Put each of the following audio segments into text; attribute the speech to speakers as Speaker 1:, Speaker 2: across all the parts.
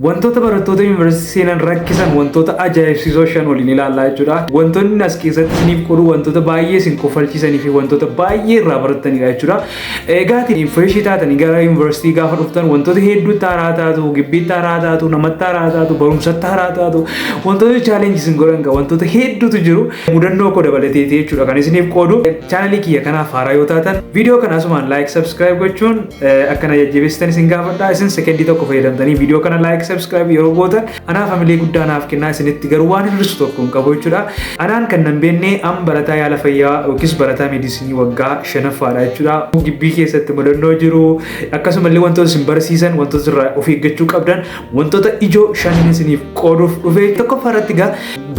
Speaker 1: Wantoota barattoota yuunivarsiitii seenan rakkisan wantoota ajaa'ibsiisoo shan waliin ilaallaa jechuudha. Wantoonni as keessatti isiniif qoru wantoota baay'ee isin kofalchiisanii fi wantoota baay'ee irraa barattanidha jechuudha. Egaa isin fireeshii taatanii gara yuunivarsiitii gaafa dhuftan wantoota hedduutti haaraa taatu, gibbiitti haaraa taatu, namatti haaraa taatu, barumsatti haaraa taatu, wantoota chaalenji isin godhan qaba. Wantoota hedduutu jiru. Mudannoo koo dabalateeti jechuudha kan isiniif qoodu. Chaanalii kiyya kanaaf haaraa yoo taatan viidiyoo kana asumaan laayik, sabskiraayib gochuun akkana jajjabeessitan isin gaafadha isin sekendii tokko fayyadamtanii viidiyoo kana laayik sabskiraayib yeroo gootan anaaf hamilee guddaa naaf kennaa isinitti garuu waan hir'isu tokko hin qabu jechuudha anaan kan nan beenne an barataa yaala fayyaa yookiis barataa meedisinii waggaa shanaffaadha jechuudha gibbii keessatti mudannoo jiru akkasumallee wantoota isin barsiisan wantoota irraa of eeggachuu qabdan Wantoota ijoo shanin isiniif qooduuf dhufe tokkoffaa irratti gaa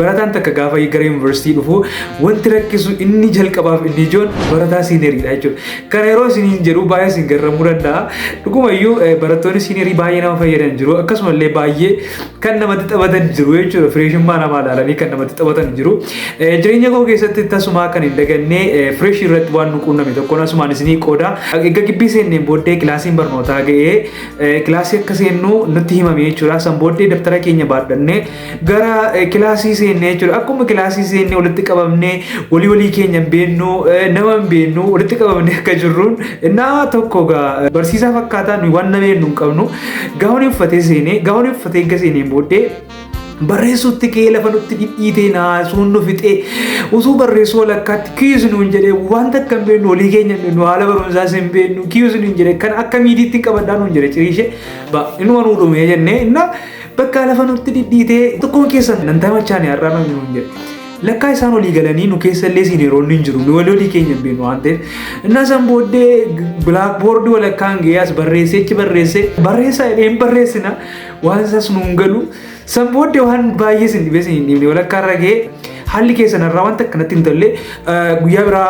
Speaker 1: barataan takka gaafa gara yuunivarsiitii dhufu wanti rakkisu inni jalqabaaf inni ijoon barataa siiniyeridha jechuudha. Kana yeroo isiniin jedhu baay'ee isin garramuu danda'a. Dhugumayyuu barattoonni siiniyerii baay'ee nama fayyadan jiru akkasumallee baay'ee kan namatti taphatan jiru jechuudha. Fireeshummaa namaa ilaalanii kan namatti taphatan jiru. Jireenya koo keessatti tasumaa kan hin daganne fireeshii irratti waan nu quunname tokkoon asumaan isinii qooda. Egaa gibbii seenneen booddee kilaasiin barnootaa ga'ee Kilaasii akka seennu nutti himame jechuudha. San booddee dabtara keenya baadhannee gara kilaasii seennee jechuudha. Akkuma kilaasii seennee walitti qabamnee walii walii keenya hin beeknu nama hin beeknu walitti qabamnee akka jirruun naa tokko gaa barsiisaa fakkaataa nuyi waan nama beeknu hin qabnu gaawwan uffatee seenee gaawwan uffatee eegga seeneen booddee barreessuutti kee lafa nutti dhidhiitee naasuun nu fixee utuu barreessuu walakkaatti kiis nuun jedhee wanta akka hin beeknu olii keenya hin beeknu haala barumsaas hin beeknu kiis nuun jedhe kan akka miidiitti hin qabadhaa nuun jedhe ciriishee ba inni waan uudhumee jennee innaa bakka lafa nutti dhidhiitee tokkoon keessan nan tamachaane har'aa nuun nuun jedhe. Lakkaa isaan olii galanii nu keessa illee siiniroonni hin jiru. Nu walii olii keenya hin beeknu waan ta'eef. Innaa san booddee bilaakboordii walakkaan ga'ee as barreessee achi barreessee barreessaa jedhee hin barreessina. Waan isaas nuun galu san booddee waan baay'ee sin dhibee sin hin dhibne walakkaa irra ga'ee haalli keessan irraa wanta akkanatti hin tolle guyyaa biraa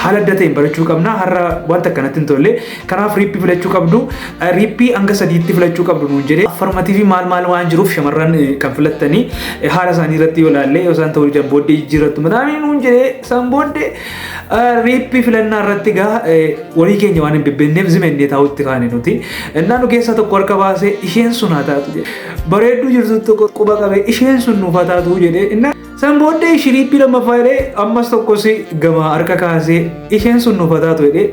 Speaker 1: haala adda ta'een barachuu qabna har'a wanta akkanatti hin tolle kanaaf riippii filachuu qabdu riippii hanga sadiitti filachuu qabdu nuun jedhee affarmatiifi maal maal waan jiruuf shamarran kan filattanii haala isaanii irratti yoo ilaalle yoo isaan ta'uu didan booddee jijjiirrattu midhaanii nuun jedhee san booddee Riippi filannaa irratti egaa walii keenya waan hin bibbenneef zimennee taa'utti kaane nuti. Innaa nu keessaa tokko harka baasee isheen sun haa taatu jedhe. Bareedduu jirtu tokko quba qabee isheen sun nuuf haa taatu jedhee innaa san booddee ishii riippi lammaffaa jedhee ammas tokkos gama harka kaasee isheen sun nuuf haa taatu jedhee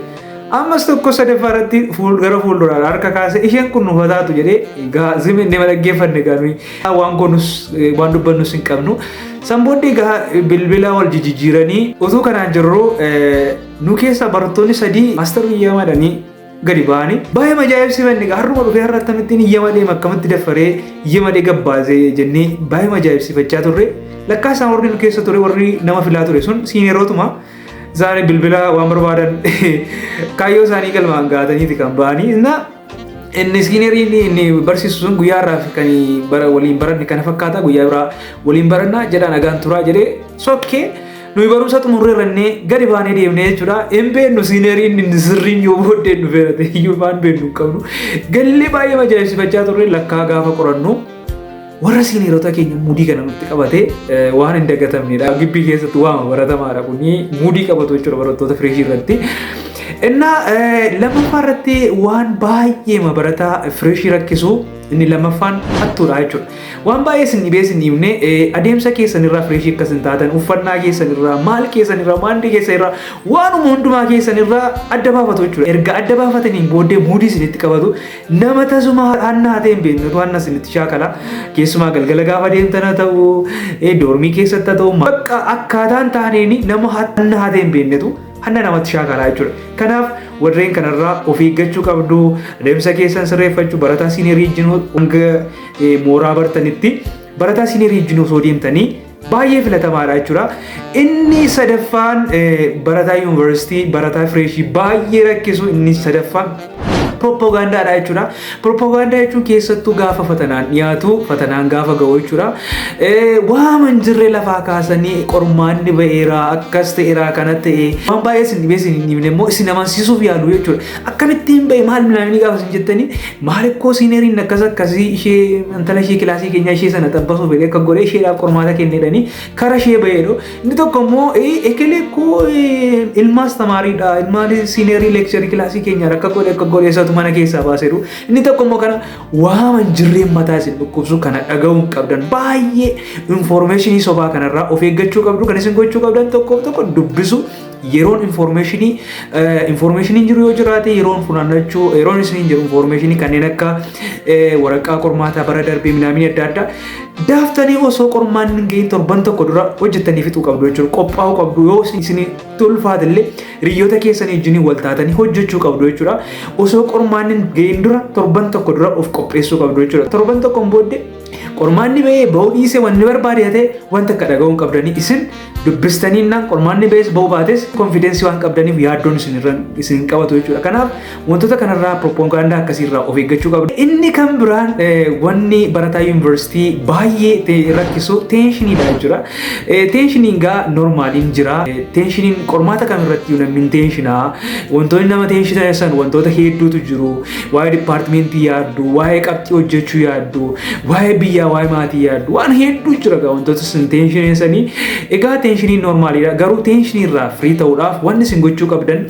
Speaker 1: ammas tokko sadaffaa irratti gara fuulduraadha harka kaasee isheen kun nuuf haa taatu jedhee egaa zimennee dhaggeeffanne gaanuu Waan goonus waan dubbannus hin qabnu. San booddee gaha bilbila wal jijjiiranii utuu kanaan jirru nu keessa barattoonni sadii maastar biyyaa madanii gadi ba'anii baay'ee majaa'ibsiifanne har'uma dhufee har'a akkamittiin iyya malee akkamitti daffaree iyya malee gabbaasee jennee baay'ee majaa'ibsiifachaa turre lakkaa isaan warri nu keessa ture warri nama filaa ture sun siinerootuma isaanii bilbila waan barbaadan kaayyoo isaanii galmaan gahataniiti kan ba'anii Inni siinerii inni inni barsiisu sun guyyaa irraa fi kan bara waliin baranne kana fakkaata guyyaa biraa waliin baranna jedhaa nagaan turaa jedhee sokkee nuyi barumsa xumurree rannee gadi baanee deemnee jechuudha. Hin beennu siinerii inni inni sirriin yoo booddee nu feerate iyyuu waan beennu hin qabnu. Gallee baay'ee majaa'ibsifachaa turre lakkaa gaafa qorannu Warra siiniirota keenya muudii kana nutti qabate waan hin dagatamnedha. Gibbii keessatti waama baratamaadha kuni muudii qabatu jechuudha barattoota fireeshii irratti. Innaa lammaffaa irratti waan baay'ee barataa fireeshii rakkisu inni lammaffaan hattuudha jechuudha. Waan baay'ee isin dhibee isin himne adeemsa keessan irraa fireeshii akkas hin taatan uffannaa keessan irraa maal keessan irraa maandii keessan irraa waanuma hundumaa keessan irraa adda baafatu jechuudha. Erga adda baafataniin booddee muudii isinitti qabatu Nama tasuma har'aan naatee hin beekne utuu anna isinitti shaakala keessumaa galgala gaafa deemtan haa ta'u eh, doormii keessatti haa ta'u bakka akkaataan taaneen nama anna haatee hin beeknetu anna namatti shaakalaa jechuudha. Kanaaf warreen kanarraa of eeggachuu qabdu adeemsa keessan sirreeffachuu barataa siinerii ijjinuu hanga eh, mooraa bartanitti barataa siinerii ijjinuu osoo deemtanii baay'ee filatamaadha jechuudha. Inni sadaffaan barataa yuunivarsiitii barataa fireeshii baay'ee rakkisu inni sadaffaan pirooppaagaandaadha jechuudha. Pirooppaagaandaa jechuun keessattuu gaafa fatanaan dhiyaatu fatanaan gaafa ga'u jechuudha. Waama hin jirre lafaa kaasanii qormaanni ba'eera akkas ta'eera kana ta'e waan baay'ee isin dhibee isin hin dhibne immoo isin amansiisuuf yaalu jechuudha. Akkamittiin ba'e maal milaanii gaafa isin jettanii Maalikkoo siineriin akkas akkasii ishee intala ishee kilaasii keenyaa ishee sana xabbasuu fedhe akka godhee isheedhaaf qormaata kennedhanii kara ishee baheedho. Inni tokko immoo ekelee koo ilmaas tamaariidha ilmaan siinerii leekcharii kilaasii keenyaa akka godhe akka godhe isatu mana keessaa baaseeru. Inni tokko immoo kana waaman jirreen mataa isin dhukkubsu kana dhaga'uun qabdan baay'ee infoormeeshinii sobaa kanarraa of eeggachuu qabdu kan isin gochuu qabdan tokkoof tokko dubbisu yeroon informeeshinii informeeshiniin jiru yoo jiraate yeroon funaannachuu yeroon isiniin jiru informeeshinii kanneen akka waraqaa qormaataa bara darbee minaamii adda addaa daaftanii osoo qormaan ga'in torban tokko dura hojjettanii fixuu qabdu jechuudha qophaa'uu qabdu yoo isinii tulfaate illee hiriyoota keessanii wajjin wal taatanii hojjechuu qabdu jechuudha osoo qormaan ga'in dura torban tokko dura of qopheessuu qabdu jechuudha torban tokkoon booddee Qormaanni ba'ee ba'uu dhiisee wanni barbaade ta'e wanta akka dhaga'uun qabdanii isin dubbistanii naan qormaanni ba'ees ba'uu baates konfiidensii waan qabdaniif yaaddoon isin irra isin hin qabatu jechuudha. Kanaaf wantoota kanarraa proppagandaa akkasii irraa of eeggachuu qabdu. Inni kan biraan eh, wanni barataa yuunivarsiitii baay'ee ta'e rakkisu teenshiniidha jechuudha. Eh, Teenshiniin gaa normaaliin jira. Eh, Teenshiniin qormaata kam irratti namni hin teenshinaa. Wantoonni nama teenshitasan wantoota hedduutu jiru. waa'ee dipaartimentii yaaddu, waa'ee qabxii hojjechuu yaaddu, waa'ee biyyaa, waa'ee maatii yaaddu, waan hedduu jira gaa wantoota isin teenshinii isanii. Egaa teenshiniin normaaliidha. Garuu teenshinii irraa firii ta'uudhaaf wanni isin gochuu qabdan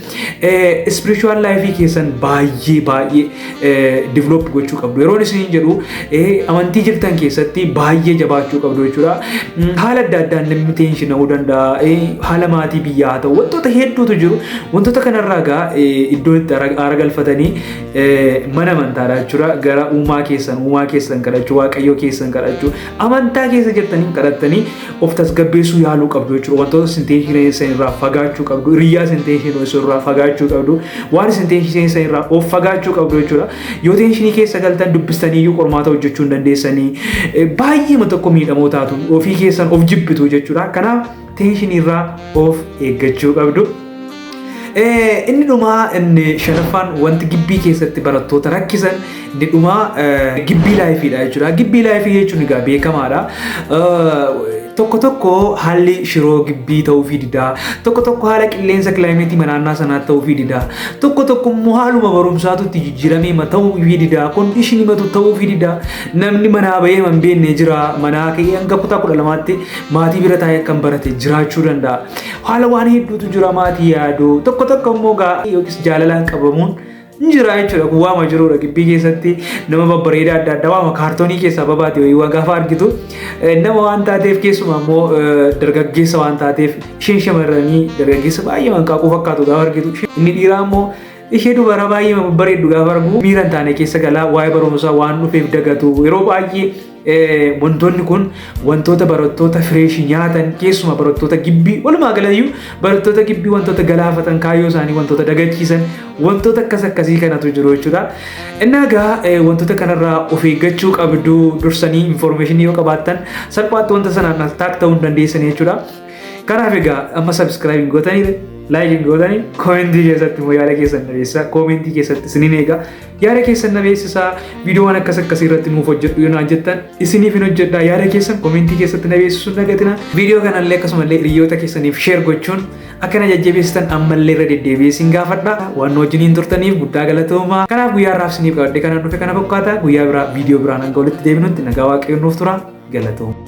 Speaker 1: spiritual life keessan baay'ee baay'ee develop gochuu qabdu. Yeroon isin jedhu amantii jirtan keessatti baay'ee jabaachuu qabdu jechuudha. Haala adda addaan namni teenshi na'uu danda'a. Haala maatii biyyaa haa ta'u wantoota hedduutu jiru. Wantoota kanarraa egaa iddoo itti aara galfatanii mana amantaadha jechuudha. Gara uumaa keessan uumaa keessan kadhachuu waaqayyoo keessan kadhachuu amantaa keessa jirtanii kadhattanii of tasgabbeessuu yaaluu qabdu jechuudha. Wantoota isin teenshi sanirraa fagaachuu qabdu. Hiriyyaa isin teenshi sanirraa fagaachuu qabdu. Waan isin teenshi sanirraa of fagaachuu qabdu jechuudha. Yoo teenshinii keessa galtan dubbistanii iyyuu qormaata hojjechuu hin dandeessanii baay'eema tokko miidhamoo taatu ofii keessan of jibbitu jechuudha. Kanaaf teenshiniirraa of eeggachuu qabdu. Inni dhumaa inni shanaffaan wanti gibbii keessatti barattoota rakkisan inni dhumaa gibbii laayifiidha jechuudha. Gibbii laayifii jechuun egaa beekamaadha. Tokko tokko haalli shiroo gibbii ta'uufii didaa. Tokko tokko haala qilleensa kilaayimeetii manaannaa sanaa ta'uufii didaa. Tokko tokko immoo haaluma barumsaatu itti jijjiiramee ma ta'uufii didaa. Kondishinii matu ta'uufii didaa. Namni manaa bahee man beenne jira. Manaa ka'ee hanga kutaa kudha lamaatti maatii bira taa'ee akkan barate jiraachuu danda'a. Haala waan hedduutu jira maatii yaaduu. Tokko tokko immoo gaa yookiis jaalalaan qabamuun Ni jira jechuudha kun waama jirudha gibbii keessatti nama babbareedaa adda addaa waama kaartoonii keessaa babaate wayii waa gaafa argitu eh, nama waan taateef keessumaa immoo eh, dargaggeessa waan taateef isheen shamarranii dargaggeessa baay'ee manqaaquu fakkaatu gaafa argitu isheen- inni dhiiraa immoo ishee dubara baay'ee babbareeddu gaafa argu miira hin taane keessa galaa waa'ee barumsaa waan dhufeef dagatu yeroo baay'ee Wantoonni kun wantoota barattoota fireeshii nyaatan keessumaa barattoota gibbii walumaa galayyuu barattoota gibbii wantoota galaafatan kaayyoo isaanii wantoota dagachiisan wantoota akkas akkasii kanatu jiru jechuudha. Innaa egaa wantoota kanarraa of eeggachuu qabdu dursanii infoormeeshinii yoo qabaattan salphaatti wanta sanaan attack ta'uu hin dandeessan jechuudha. Kanaaf egaa amma sabiskiraayibii gootanii laayikiin gootanii koomentii keessatti immoo yaada keessan dhageessa koomentii keessatti isiniin eega. Yaada keessan na beeksisaa viidiyoowwan akkas akkasii irratti nuuf hojjedhu yoo naan jettan isiniif hin hojjedhaa yaada keessan komentii keessatti na beeksisuun dagatina viidiyoo kanallee akkasumallee hiriyoota keessaniif sheer gochuun akka na jajjabeessitan ammallee irra deddeebi'ee isin gaafadha waan nu wajjiniin turtaniif guddaa galatoomaa kanaaf guyyaa har'aaf isiniif qabadde kanaan dhufe kana fakkaata guyyaa biraa viidiyoo biraan hanga walitti deebinutti nagaa waaqayyoon nuuf tura galatooma.